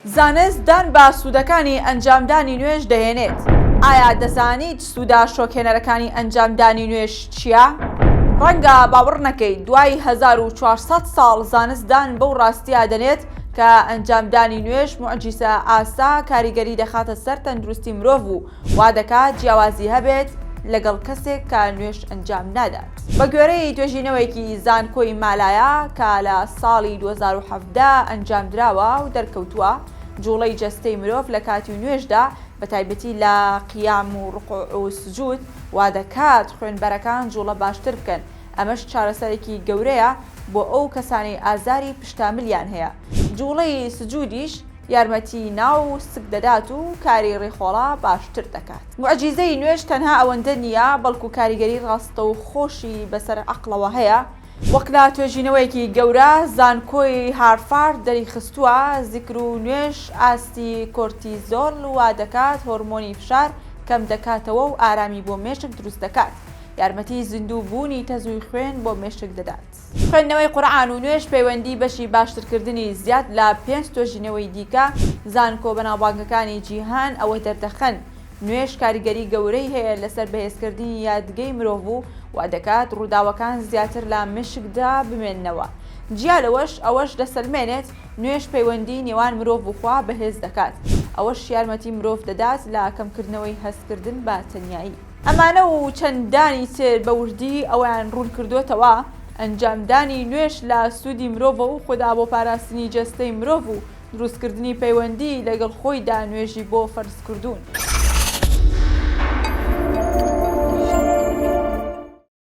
زانست دان بە سوودەکانی ئەنجامدانی نوێژ دەهێنێت. ئایا دەزانیت سوودە شۆکهێنەرەکانی ئەنجامدانی نوێژ چییە؟ ڕەنگە باوەڕ نەکەیت، دوای هەزار و چوار سەد ساڵ زانست دان بەو ڕاستییە دەنێت کە ئەنجامدانی نوێژ موعجیزە ئاسا کاریگەری دەخاتە سەر تەندروستی مرۆڤ و وا دەکات جیاوازی هەبێت لەگەڵ کەسێک کە نوێژ ئەنجام نادات. بە گوێرەی توێژینەوەیەکی زانکۆی مالایا کە لە ساڵی دوو هەزار و حەڤدە ئەنجام دراوە و دەرکەوتووە جووڵەی جەستەی مرۆڤ لە کاتی نوێژدا بە تایبەتی لە قیام و ڕکوع و سجود وا دەکات خوێنبەرەکان جووڵە باشتر بکەن ئەمەش چارەسەرێکی گەورەیە بۆ ئەو کەسانەی ئازاری پشتاملیان هەیە جووڵەی سجودیش یارمەتی ناو و سک دەدات و کاری ڕیخۆڵە باشتر دەکات. موعجیزەی نوێژ تەنها ئەوەندە نییە، بەڵکو کاریگەری ڕاستەوخۆشی بەسەر عەقڵەوە هەیە، وەک لە توێژینەوەیەکی گەورە زانکۆی هارفارد دەریخستووە، زیکر و نوێژ ئاستی کۆرتیزۆل وادەکات، هۆرمۆنی فشار، کەمدەکاتەوە و ئارامی بۆ مێشک دروست دەکات، یارمەتی زیندوو بوونی تەزووی خوێن بۆ مێشک دەدات. خوێندنەوەی قورئان و نوێژ پەیوەندی بەشی باشترکردنی زیاد لە پێنج تۆژینەوەی دیکە زانکۆ بەناوبانگەکانی جیهان ئەوە دەردەخەن نوێژ کاریگەری گەورەی هەیە لەسەر بەهێزکردنی یادگەی مرۆڤ و وادەکات ڕووداوەکان زیاتر لە مێشکدا بمێننەوە جیا لەوەش ئەوەش دەسەلمێنێت نوێژ پەیوەندی نێوان مرۆڤ و خوا بەهێز دەکات ئەوەش یارمەتی مرۆڤ دەدات لە کەمکردنەوەی هەستکردن بە تەنیایی. ئەمانە و چەندانی تر بە وردی ئەوەیان ڕوون کردۆتەوە، ئەنجامدانی نوێژ لە سوودی مرۆڤە و خودا بۆ پاراستنی جەستەی مرۆڤ و دروستکردنی پەیوەندی لەگەڵ خۆیدا نوێژی بۆ فەرز کردوون.